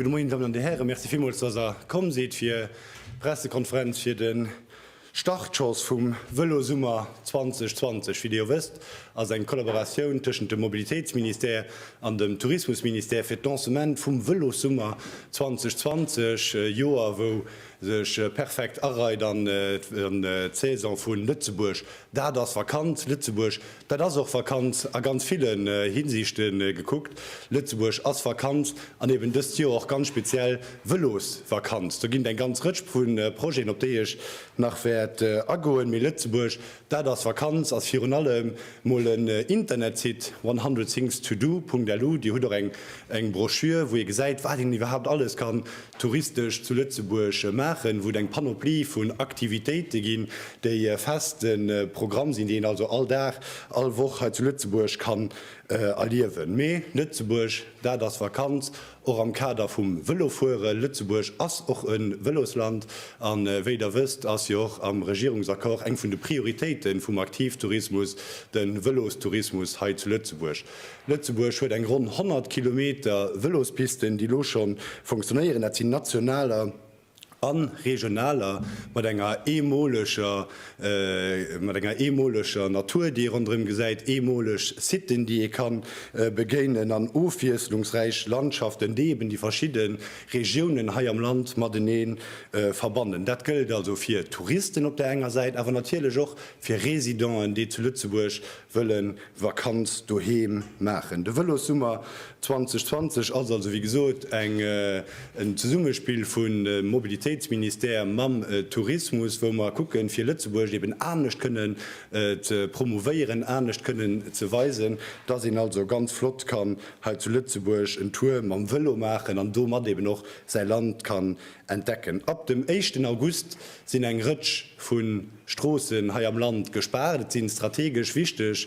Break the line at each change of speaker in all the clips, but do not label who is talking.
Gute Moien, Damen an de Häre, Merci villmools, dass er komm sidd fir d'Pressekonferenz fir de Startschoss vum Vëlosummer 2020, wéi Dir jo wësst, ass eng Kollaboratioun tëschent dem Mobilitéitsministère an dem Tourismusministère fir d'Lancement vum Vëlossummer 2020, e Joer wou sech perfekt areit an d'Saison vu Lëtzebuerg, dat ass Vakanz, Lëtzebuerg Dat ass och Vakanz a ganz ville Hinsichte gekuckt. Lëtzebuerg ass Vakanz an eben dëst Joer och ganz speziell Vëlosvakanz. Do ginn et eng ganz Rëtsch vu Projeten, op déi ech nach wäert agoen. Mee Lëtzebuerg, dat ass Vakanz ass virun allem mol en Internetsite, one hundred things to do. Lu. Dir hutt och eng Broschür, wou ee gesäit, wat een iwwerhaupt alles kann touristesch zu Lëtzebuerg maachen, wou et eng Panoplie vun Aktivitéite ginn, déi e feste Programm sinn, déi een also all Dag, all Woch hei zu Lëtzebuerg kann erliewen. Mee Lëtzebuerg, dat ass Vakanz, och am Kader vum Vëlofueren. Lëtzebuerg ass och e Vëlosland a wéi Der wësst, ass jo och am Regierungsaccord eng vun de Prioritéite vum Aktivtourismus de Vëlostourismus hei zu Lëtzebuerg. Lëtzebuerg huet eng ronn 100 Kilometer Vëlospisten, déi elo scho funktionéieren. Dat sinn nationaler a regionaler, mat enger eemoleger mat enger eemoleger Natur, déi ee ronderëm gesäit, eemoleg Siten, déi ee ka begéinen, an ofwiesslungsräich Landschaften, déi eben déi verschidde Regiounen hei am Land matenee verbannen. Dat gëllt also fir Touristen op där enger Säit, awer natierlech och fir Residenten, déi zu Lëtzebuerg wëllen Vakanz doheem maachen. De Vëlossummer 2020 ass also wéi gesot en Zesummespill vu Mobilitéitsministère mam Tourismus, wou mer kucken, fir Lëtzebuerg eben anescht kënnen ze promouvéieren, anescht kënnen ze weisen, dass een also ganz flott kann hei zu Lëtzebuerg en Tour mam Vëlo maachen an domat eben och säi Land kann entdecken. Ab dem éischten August sinn eng Rëtsch vu. Stroossen hei am Land gespaart. Et si strategesch wichteg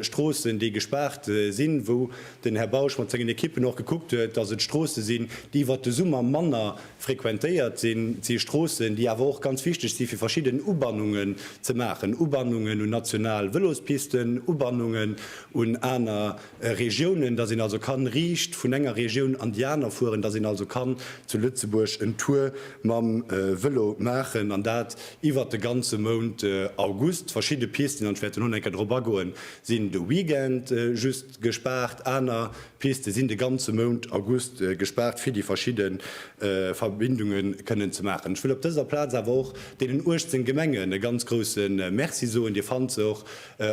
Stroossen, déi gespaart sinn, wou den Här Bausch mat sengen Ekippen och gekuckt huet, dass et Stroosse sinn, déi iwwert de Summer manner frequentéiert sinn. Et si Stroossen, déi awer och ganz wichteg si fir verschidden Ubannungen ze maachen, Ubannungen un national Vëlospisten, Ubannungen un aner Regiounen, dass een also kann riicht vun enger Regioun an déi aner fueren, dass een also kann zu Lëtzebuerg en Tour mam Vëlo maachen, an dat iwwert de ganze Mount August. Verschidde Pisten, an ech wäert elo nach eng Kéier dorop agoen, sinn de Weekend just gespaart, aner Piste sinn de ganze Mount August gespaart, fir déi verschidde Verbindunge kënnen ze maachen. Ech wëll op dëser Plaz awer och deenen 18 Gemengen e ganz grouse Merci soen. Dir fannt se och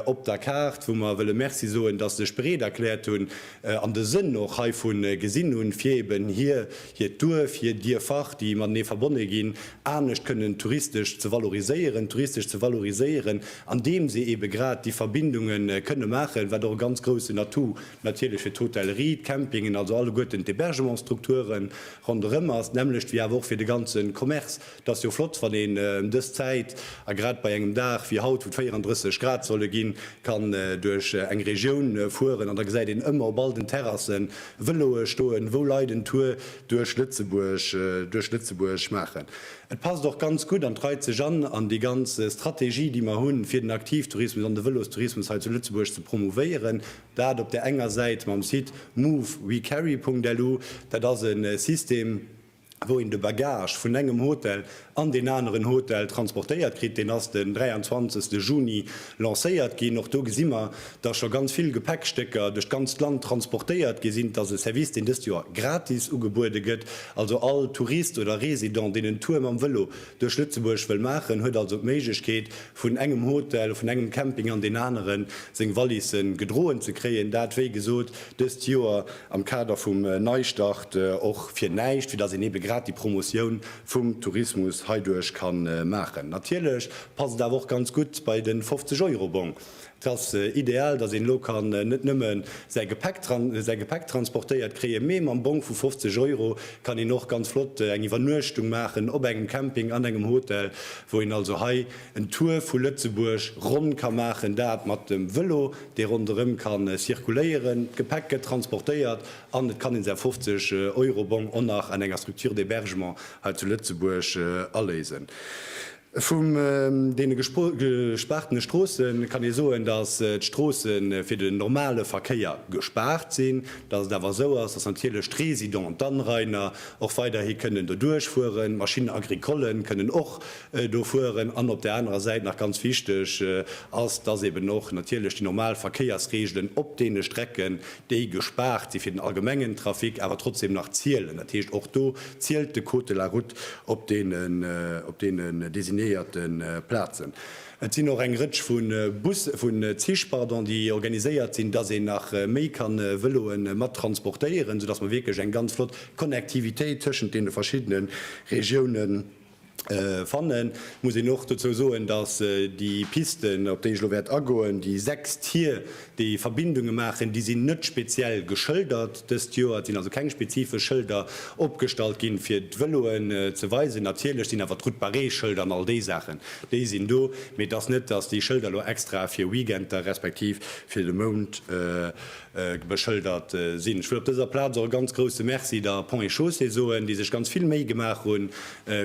op der Kaart, wou mer wëlle Merci soen, dass se sech bereet erkläert hunn an de Sënn och heivu gesinn hunn, fir eben hir, hiert Duerf, hir Dierfer, déi matenee verbonne ginn, anescht kënnen touristesch ze valoriséieren, touristesch ze valoriséieren, andeem se ebe grad déi Verbindunge kënne maachen, wat och e ganz groussen Atout natierlech fir d'Hotellerie, d'Campingen, also alleguerten d'Hébergementsstrukture ronderëm ass, d'nämmlecht wéi awer och fir de ganze Commerce. Et ass jo flott, wann een ëm dës Zäit, a grad bei engem Dag wéi haut, wou et 34 Grad solle ginn, kann duerch eng Regioun fueren an da gesäit een ëmmer op all den Terrassen Vëloe stoen, wou Leit en Tour duerch Lëtzebuerg, duerch Lëtzebuerg maachen. Et passt och ganz gutt an et reit sech an an déi ganz Strategie, déi mer hunn, fir den Aktivtourismus an de Vëlostourismus hei zu Lëtzebuerg ze promouvéieren. Dat op där enger Säit mam Site move-we-carry.lu. Dat ass e System, wou een de Bagage vun engem Hotel an deen aneren Hotel transportéiert kritt, deen ass den 23 Juni lancéiert ginn. Och do gesi mer, datt scho ganz vill Gepäckstécker duerch d'ganzt Land transportéiert gi sinn. Et ass e Service, deen dëst Joer gratis ugebuede gëtt. Also all Tourist oder Resident, deen en Tour mam Vëlo duerch Lëtzebuerg wëll maachen, huet also d'Méiglechkeet, vun engem Hotel, vun engem Camping an deen aneren seng Valise gedroen ze kréien. Dat, wéi gesot, dëst Joer am Kader vum Neistart och fir näischt, fir datt een ebe grad déi Promotioun vum Tourismus heiduerch ka maachen. Natierlech passt et awer och ganz gutt bei de 50 Euro-Bong. Et ass ideal, datt een elo kann net nëmme säi Gepäck säi Gepäck transportéiert kréien, mee mam Bong vu 50 Euro kann een och ganz flott eng Iwwernuechtung maachen op engem Camping, an engem Hotel, wou een also hei en Tour vu Lëtzebuerg ronn ka maachen, dat mat dem Vëlo. dee ronderëm ka circuléieren, d'Gepäck gëtt transportéiert an et kann een säi 50 Euro Bong och nach an enger Structure d'hébergement hei zu Lëtzebuerg aléisen. Vum deene gespaartene Stroosse kann ee soen, datt d'Stroosse fir den normale Verkéier gespaart sinn, datt et awer esou ass, datt natierlech d'Résidents, d'Anrainer och weiderhi kënnen doduerch fueren, d'Machines agricollen kënnen och do fueren, an op där anerer Säit nach ganz wichteg ass, dass eben och natierlech déi normal Verkéiersregelen op deene Strecken, déi gespaart si fir den allgemengen Trafic, awer trotzdem nach zielen. Dat heescht, och do zielt de Code de la Route op deenen designéierte Plazen. Et sinn och eng Rëtsch vu Bussen, vu Zich, pardon, déi organiséiert sinn, dass een nach méi ka Vëloe mat transportéieren, soudass mer wierklech eng ganz flott Connectivitéit tëschent deene verschiddene Regiounen Fannen muss een och dozou soen, dass déi Pisten, op déi ech elo wäert agoen, déi sechs Tier, déi Verbindunge maachen, déi sinn net speziell geschëldert dëst Joer. Et sinn also keng spezifesch Schëlder opgestallt ginn, fir d'Vëloen ze weisen. Natierlech sinn awer d'Route barrée Schëlder an all déi Saachen, déi sinn do. Mee et ass net, dass déi Schëlder elo extra fir Weekender respektiv fir de Mount beschëldert sinn. Ech wëll op dëser Plaz och e ganz grousse Merci der Ponts et Chaussées soen, déi sech ganz vill Méi gemaach hunn,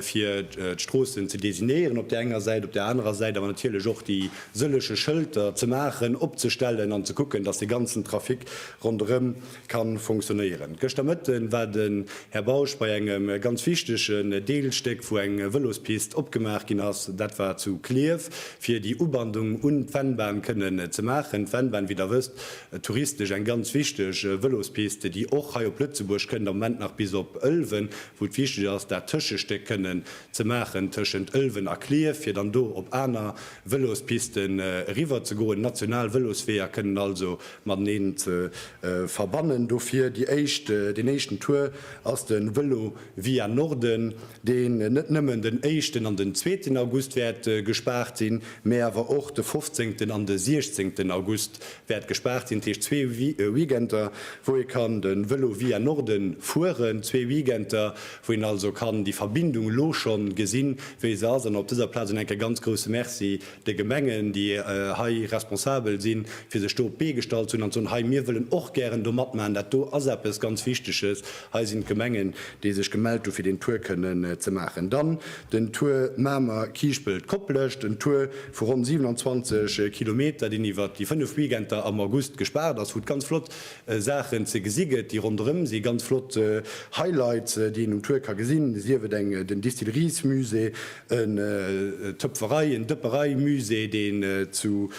fir d'Stroossen ze designéieren op där enger Säit, op där anerer Säit awer natierlech och déi sëlleche Schëlter ze maachen, opzestellen an ze kucken, dass de ganzen Trafic ronderëm ka fonctionnéieren. Gëschter Mëtte war den Här Bausch bei engem ganz wichtegen Deelstéck, wou eng Vëlospist opgemaach ginn ass. Dat war zu Klierf. fir déi Ubandung un d'Vennbahn kënnen ze maachen. D'Vennbahn, wéi Der wësst, touristesch eng ganz wichteg Vëlospiste, déi och hei op Lëtzebuerg kënnt, am Moment nach bis op Ëlwen, wou et wichteg ass, dat Tëschestéck kënnen ze maachen tëschent Ëlwen a Clierf, fir dann do op aner Vëlospisten eriwwer ze goen. National Vëlosweeër kënnen also mateneen ze verbannen. Dofir déi éischt, deen éischten Tour ass de Vëlo via Norden. deen net nëmmen den éischten an den zweeten August wäert gespaart sinn, mä awer och de fofzéngten an de siechzéngten August wäert gespaart sinn, dat heescht zwee Weekender, wou ee kann de Vélo via Norden fueren, zwee Weekender, wou een also kann déi Verbindung elo scho gesinn, wéi se ass. An op dëser Plaz un enk e ganz grouse Merci de Gemengen, déi hei responsabel sinn, fir sech do op d'Bee gestallt ze hunn an ze soen, hei, mir wëllen och gären do matmaachen, dat do ass eppes ganz Wichteges, hei sinn d'Gemengen, déi sech gemellt hunn, fir deen Tour kënnen ze maachen. Dann den Tour Mamer, Kiischpelt, Koplescht, en Tour vu ronn 27 Kilometer, deen iwwert déi fënnef Weekender am August gespaart ass, wou et ganz flott Saachen ze gesi gëtt, déi ronderëm si, ganz flott Highlights, déi een um Tour ka gesinn, sief et eng den Distilleries-Musée, en Töpferei en Dëpperei-Musée, deen zu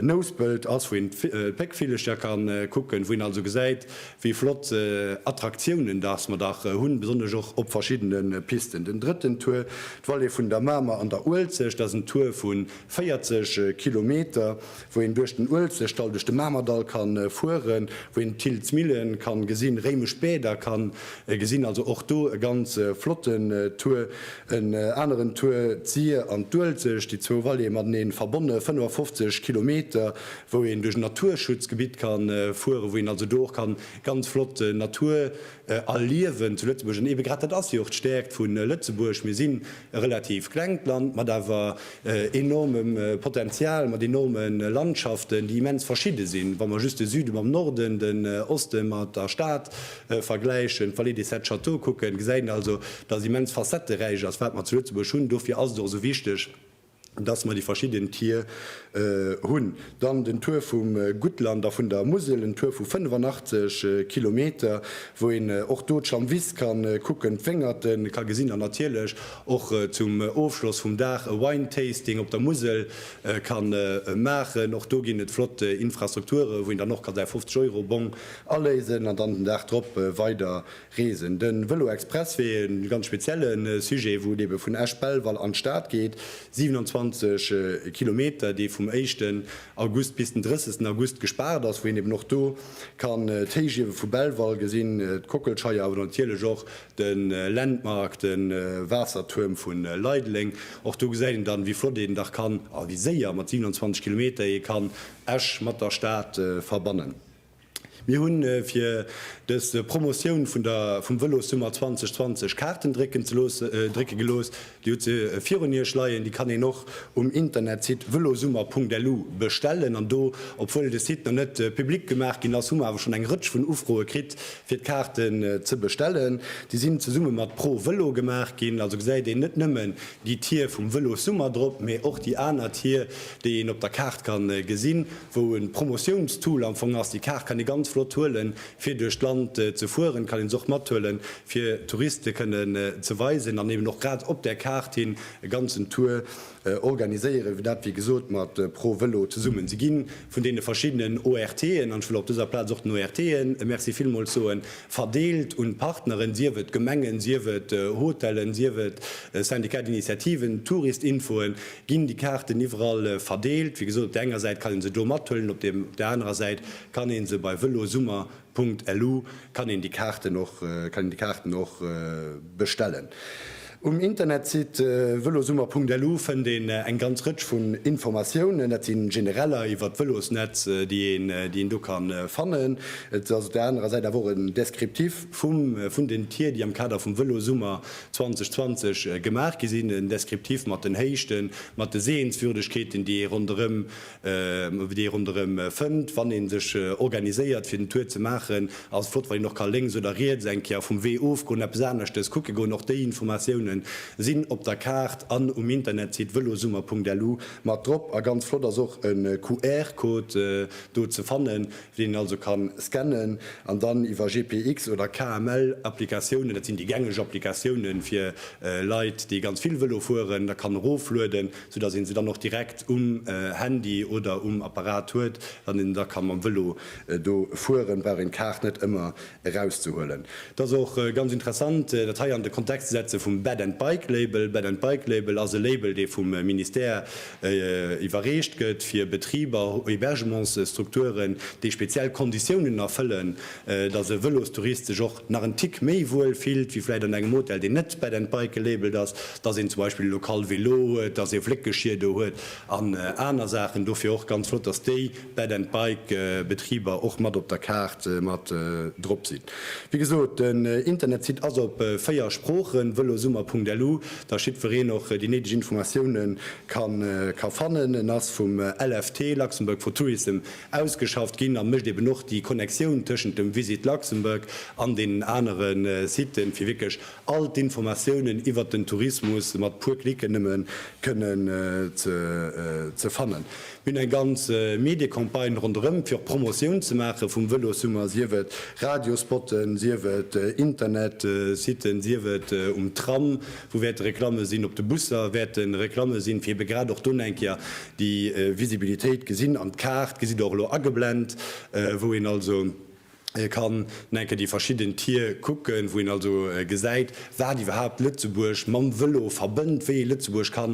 Nouspelt ass, wou een d'Péckvillecher ka kucken, wou een also gesäit, wéi flott Attraktiounen dass mer dach hunn, besonnesch och op verschiddene Pisten. Den drëtten Tour, d'Vallée vun der Mamer an der Uelzecht, dat ass en Tour vu 40 Kilometer, wou een duerch den Uelzechtdall, duerch de Mamerdall ka fueren, wou een d'Thiltz Millen ka gesinn, réimesch Bäder ka gesinn, also och do e ganz flotten Tour. En aneren Tour, d'Syr an d'Uelzecht, déi zwou Vallée mateneen verbonne, 55 Kilometer, wou een duerch en Naturschutzgebitt ka fueren, wou een also do och ka ganz flott Natur, erliewen zu Lëtzebuerg. An eebe grad dat ass jo och d'Stäerkt vu Lëtzebuerg, Mir sinn e relativ klengt Land mat awer enormem Potenzial, mat enorme Landschaften, déi immens verschidde sinn, wa mer just de Süde mam Norden, den Oste mat der Stad vergläichen, d'Vallée des Sept Châteaux kucken, gesäit een also, dass immens facetteräich ass, wat mer zu Lëtzebuerg hunn. Dofir ass et och esou wichteg, dass mer déi verschidden Tier hunn. Dann den Tour vum Guttland a vun der Musel, en Tour vu 85 Kilometer, wou een och do d'Schlamm Wiss ka kucken, d'Wéngerte ka gesinn an natierlech och zum Ofschloss vum Dag e Wine Tasting op der Musel ka maachen. Och do ginn et flott Infrastrukture wou een dann och kann säi 50 Euro Bong aléisen an dann den Dag drop weider Reesen. De Vëlo Express wier ee ganz spezielle Sujet, wou et ebe vun Esch-Belval an d'Stad geet, 27 Kilometer, dee vum éischten August bis den 30 August gespaart ass, wou een eben och do kann d'Héichiewe vu Belval gesinn, d'Kockelscheier, awer natierlech och de Landmark, de Waassertuerm vu Leideleng. Och do gesäit een dann, wéi flott een dach kann a wéi séier mat 27 Kilometer ee kann Esch mat der Stad verbannen. Mir hu fir dës Promotioun vun der vum Vëlossummer 2020 Kaarten drécken ze looss drécke gelooss. Dir hutt se virun Iech leien. Déi kann een och um Internetsite velosummer.lu bestellen. An do, obwuel de Site nach net public gemaach ginn ass, hu mer awer schonn eng Rëtsch vun Ufroe kritt, fir d'Kaarten ze bestellen. Déi sinn zesumme mat Pro Velo gemaach ginn. Also gesäit een net nëmmen déi Tier vum Vëlossummer drop, mee och déi aner Tier, déi een op der Kaart kann gesinn. wou e Promotiounstool am Fong ass. Déi Kaart kann ee ganz flott huelen, fir duerch d'Land ze fueren. Et kann een se och mathuelen, fir Touriste kënnen ze weisen an eben och grad op där Kaart hin e ganzen Tour organiséieren, dat, wéi gesot, mat Pro Vëlo zesummen. Si gi vun deene verschiddenen ORTen, an ech wëll op dëser Plaz och den ORTen e Merci villmools soen, verdeelt un d'Partneren, sief et Gemengen, sief et Hotellen, sief et Syndicat d'initiativen, Touristinfoen, Ginn déi Kaarten iwwerall verdeelt? Wéi gesot, op der enger Säit kann een se do mathuelen, op der anerer Säit kann een se bei velosummer.lu kann een déi Kaarten och kann een déi Kaarten och bestellen. Um Internetsite velosummer.lu fënnt een eng ganz Rëtsch vun Informatiounen. Dat si genereller iwwert d'Velosnetz, déi een déi een do ka fannen. Et ass op der anerer Säit awer och en Descriptif vum vun den Tier, déi am Kader vum Velosummer 2020 gemaach gi sinn, en Descriptif mat den Héichten, mat de Sehenswürdegkeeten, déi ee ronderëm, déi ee ronderëm fënnt, wann ee sech organiséiert fir den Tour ze maachen. Ass flott wann een och ka lénks oder riets eng Kéier vum Wee ofgoen, eppes aneschtes kucke goen. Och déi Informatioune sinn op der Kaart an um Internetsite velosummer.lu mat drop. A ganz flott ass och e QR-Code do ze fannen, deen een also ka scannen an dann iwwer GPX oder KML Applikatiounen, dat sinn déi gängeg Applikatiounen fir Leit, déi ganz vill Vëlo fueren, da kann eroflueden, sou datt ee se dann och direkt um Handy oder um Apparat huet. Wann een da ka mam Vëlo do fueren, brauch een d'Kaart net ëmmer erauszehuelen. Et ass och ganz interessant, dat hei an de Kontext ze setze vum Bed and Bike Label. Bed and Bike Label ass e Label, dee vum Ministère iwwerreecht gëtt fir Betriber, Hébergementsstrukturen, déi speziell Konditiounen erfëllen, dass e Vëlostourist sech och nach en Tick méi wuel fillt wéi vläicht an engem Hotel, deen net Bed and Bike gelabelt ass, dass een zum Beispill elo kal Velo huet, dass ee Fléckgeschir do huet an aner Saachen. Dofir och ganz flott, dass déi. Bed and Bike Betriber och mat op der Kaart mat drop sinn. Wéi gesot, den Internetsite ass op 4 Sproochen, velosummer.lu, datt jiddwereen och déi néideg Informatioune ka fannen. En ass vum LFT, Luxembourg for Tourism, ausgeschafft ginn a mécht eben och déi Connectioun tëschent dem Visit Luxembourg an deenen anere Siten, fir wierklech all d'Informatiounen iwwert den Tourismus mat puer Klicken nëmme kënnen ze fannen. Mir hunn eng ganz Mediecampagne ronderëm, fir och Promotioun ze maache vum Vëlossummer, sief et Radiospotten, sief et Internetsitten, sief et um Tram, wou wäerte Reklamme sinn, op de Busser wäerte Reklamme sinn, fir ebe grad och do eng Kéier déi Visibilitéit gesinn. An d'Kaart gesitt Der och elo ageblent, wou een also Ee kann no enke déi verschidden Tier kucken, wou een also gesäit, wat iwwerhaapt Lëtzebuerg mam Vëlo verbënnt, wéi ee Lëtzebuerg ka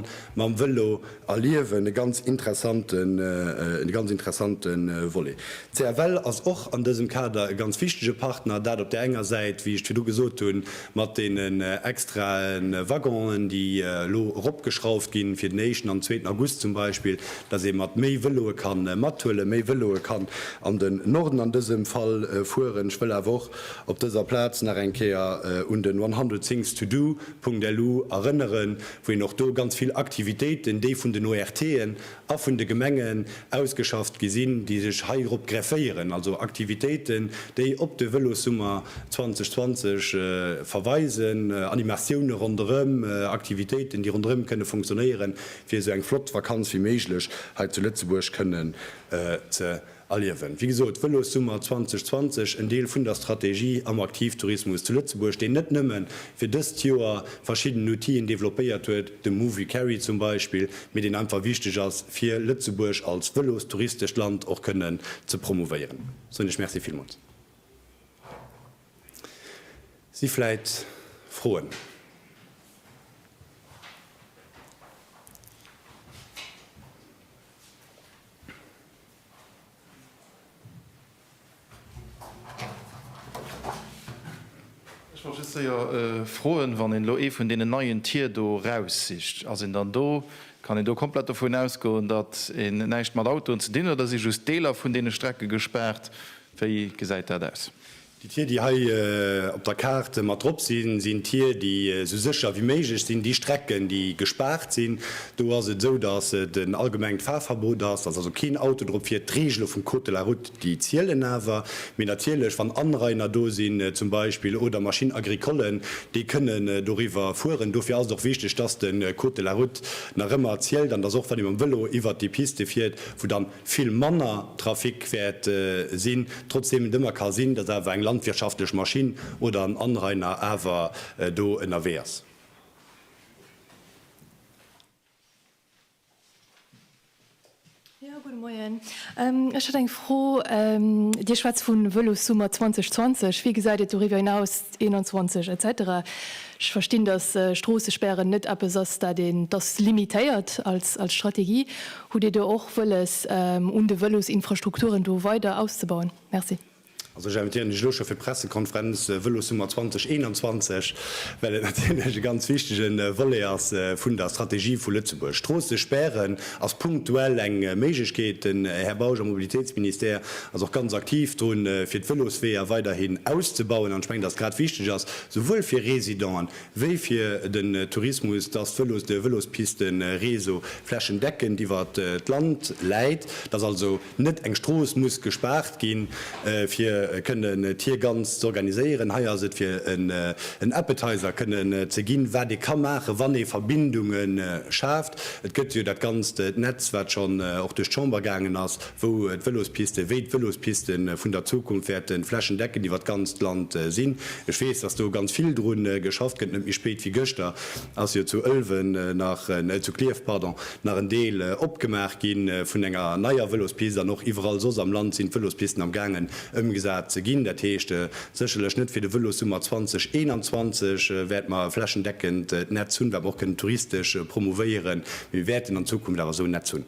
mam Vëlo erliewen. E ganz interessante, e ganz interessante Volet. D'CFL ass och an dësem Kader e ganz wichtege Partner, dat op där enger Säit, wéi ech et virdru gesot hunn, Mat deenen extrae Waggonen, déi elo eropgeschrauft ginn, fir den éischten an den zweeten August zum Beispill, dass ee mat méi Vëloe ka mathuelen, méi Vëloe kann an den Norden an dësem Fall fueren. Ech wëll awer och op dëser Plaz nach eng Kéier un den one hundred things to do. LU erënneren, wou een och do ganz vill Aktivitéiten, déi vun den ORTen a vun de Gemengen ausgeschafft gi sinn, déi sech heirop grefféieren, also Aktivitéiten, déi op de Vëlossummer 2020 verweisen, Animatioune ronderëm, Aktivitéiten, déi ronderëm kënne funktionéieren, fir esou eng flott Vakanz wéi méiglech hei zu Lëtzebuerg kënnen ze. Erliewen. Wéi gesot, Vëlossummer 2020, en Deel vun der Strategie am Aktivtourismus zu Lëtzebuerg, deen net nëmme fir dëst Joer verschidden Outien developpéiert huet, de Movilcarry zum Beispill, mee deen einfach wichteg ass, fir Lëtzebuerg als vëlostouristescht Land och kënnen ze promouvéieren. Soen ech Merci villmools. Si vläit Froen?
Ech wollt just séier froen, wann een elo ee vun deenen neien Tier do raussicht, ass een dann do, kann een do komplett dovun ausgoen, datt een näischt mat Autoen ze dinn huet, oder si just Deeler vun deene Strecke gespaart? Wéi gesäit dat aus? Déi Tier, déi hei
op der Kaart mat drop sinn, sinn Tier, déi esou sécher wéi méiglech sinn. Déi Strecken, déi gespaart sinn, do ass et esou, datt et en allgemengt Fahrverbot ass, datt also keen Auto drop fiert. D'Reegele vum Code de la Route, déi zielen awer. Mee natierlech, wann Anrainer do sinn zum Beispill oder Machines agricollen, déi kënnen doriwwer fueren. Dofir ass et och wichteg, datt de Code de la Route nach ëmmer zielt an datt och wann ee mam Vëlo iwwert déi Piste fiert, wou dann, vill manner Trafic wäert sinn, trotzdem et ëmmer ka sinn, datt awer eng landwirtschaftlech Maschinn oder en Anrainer awer do ënnerwee ass.
Jo, gudde Moien. Ech hätt eng Fro. Dir schwätzt vu Vëlossummer 2020. Wéi gesäit et doriwwer hinaus, 21 et cetera? Ech verstinn, datt Stroossespären net eppes ass, dat een, datt limitéiert als Strategie. Hutt Dir do och wëlles, un de Vëlosinfrastrukturen do weider auszebauen? Merci. Also ech invitéieren
Iech elo scho fir d'Pressekonferenz Vëlossummer 2021, well et natierlech e ganz wichtige Volet ass vun der Strategie vu Lëtzebuerg. Stroosse spären ass punktuell eng Méiglechkeet. Den Här Bausch am Mobilitéitsministère ass och ganz aktiv drun, fir d'Vëlosweeër weiderhin auszebauen. An ech mengen, dass grad wichteg ass, souwuel fir Residenten wéi fir den Tourismus, dass d'Vëlos, de Vëlospisten-Réseau flächendeckend iwwer d'Land läit, dass also net eng Strooss muss gespaart ginn, fir kënnen d'Hier ganz z'organiséieren. Hei ass et fir en Appetizer kënnen ze ginn, wat ee ka maachen, wann ee Verbindunge schaaft. Et gëtt jo dat ganzt Netz, wat schonn och duerch d'Chamber gaangen ass, wou d'Vëlospiste, wéi d'Vëlospiste vun der Zukunft wäerte flächendeckend iwwer d'ganzt Land sinn. Ech weess, dass do ganz vill dru geschafft gëtt. Net méi spéit wéi gëschter ass jo zu Ëlwen nach, zu Klierf, pardon, nach en Deel opgemaach gi vun enger neier Vëlospist an och iwwerall soss am Land sinn d'Vëlospisten am gaangen ëmgesat ze ginn. Dat heescht, sécherlech net fir de Vëlossummer 2021 wäerte mer e flächendeckend Netz hunn, wat mer och kënnen touristesch promouvéieren, mee mir wäerten an Zukunft awer esou en Netz hunn.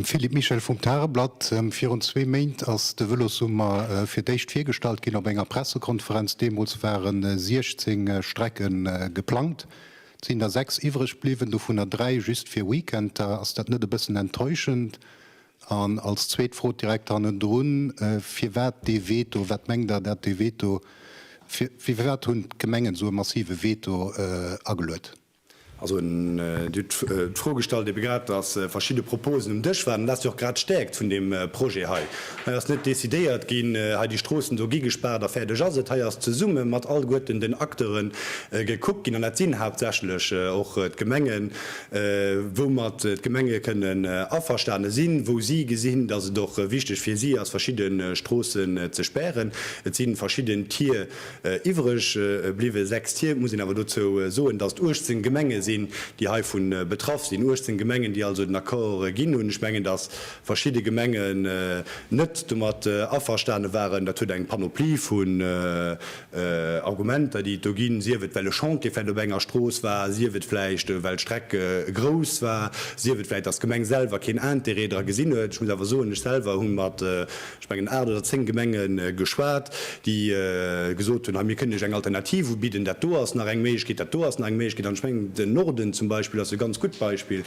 Philippe Michel vum Tageblatt, Virun zwee Méint ass de Vëlossummer fir d'éischt virgestallt ginn op enger Pressekonferenz. Deemools ware 16 Strecke geplangt, et sinn der sechs iwwreg bliwwen, dovunner dräi just fir Weekender. Ass dat net e bëssen enttäuschend? An als zweet Fro direkt hannendrun, Firwat dee Veto? Wat mengt Der, dat dee Veto, firwat hunn d'Gemengen esou e massive Veto ageluet? Also
Dir hutt d'Fro gestallt ebe grad, datt verschidde Proposen um Dësch waren. Dat ass jo och grad d'Stäerkt vun deem Projet hei. Hei ass net decidéiert ginn, hei déi Stroossen do gi gespaart a fäerdeg ass et. Hei ass zesumme mat allguerten den Acteure gekuckt ginn, an dat sinn haaptsächlech och d'Gemengen, woumat d'Gemenge kënnen averstane sinn, wou si gesinn, dass et och wichteg fir si ass, verschidde Stroossen ze spären. Et si verschidden Tier iwwreg bliwwen, sechs Tier. Et muss een awer dozou soen, dass et 18 Gemenge sinn, déi heivu betraff sinn, 18 Gemengen, déi also den Accord ginn hunn. Ech mengen, dass verschidde Gemengen net domat averstane waren. Dat huet eng Panoplie vu Argumenter, déi et do ginn, sief et well e Chantier vläicht op enger Strooss war, sief et vläicht well d'Streck grouss war, sief et vläicht, datt d'Gemeng selwer keen Intérêt dra gesinn huet. Ech muss awer soen, ech selwer hu mat, ech mengen, aacht oder zéng Gemenge geschwat, déi gesot hunn, hei mir kënnen Iech eng Alternativ ubidden, dat do ass nach eng Méiglechkeet, dat do ass nach eng Méiglechkeet. An ech mengen, den Norden zum Beispill ass e ganz gutt Beispill,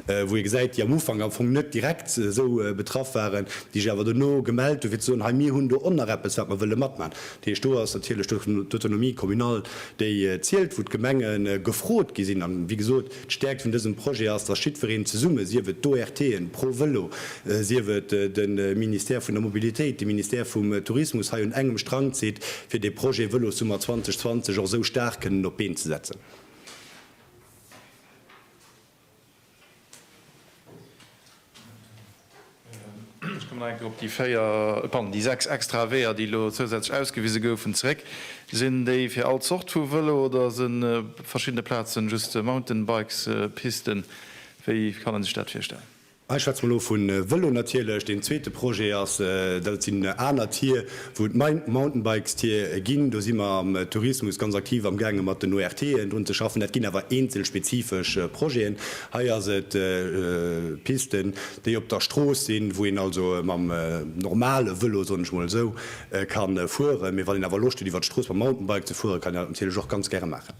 wou ee gesäit, déi am Ufank am Fong net direkt esou betraff waren, déi sech awer duerno gemellt hu fir ze soen, hei mir hunn do och nach eppes wat mer wëlle matman. Dat heescht, do ass natierlech d'Autonomie communale, déi zielt, wou d'Gemenge gefrot gi sinn. An, wéi gesot, d'Stäerkt vun dësem Projet ass, dass jiddwereen zesumme, sief et d'ORTen, ProVelo, sief et de Ministère vun der Mobilitéit, de Ministère vum Tourismus, hei un engem Strang zitt, fir dee Projet Vëlossummer 2020 och esou staark kënnen op d'Been ze setzen.
Ech kommen nach eng Kéier op déi véier, pardon, déi sechs extrae Weeër, déi elo zousätzlech ausgewise goufen, zeréck. Sinn déi fir all Zort vu Vëlo oder si verschiddene Plazen just Mountainbikespisten? Wéi kann ee sech dat virstellen? Ech schwätze mol elo vu
Vëlo natierlech. Deen zweete Projet ass, dat sinn aner Tier, wou et Mountainbikestier ginn. Do si mer am Tourismus ganz aktiv amgaange mat den ORTen drun ze schaffen. Dat ginn awer eenzel spezifesch Projeten. Hei ass et Pisten, déi op der Strooss sinn, wou een also mam normale Vëlo, soen ech mol esou, ka fueren. Mee wann een awer Loscht huet iwwer d'Strooss mam Mountainbike ze fueren, kann een dat natierlech och ganz gäre maachen.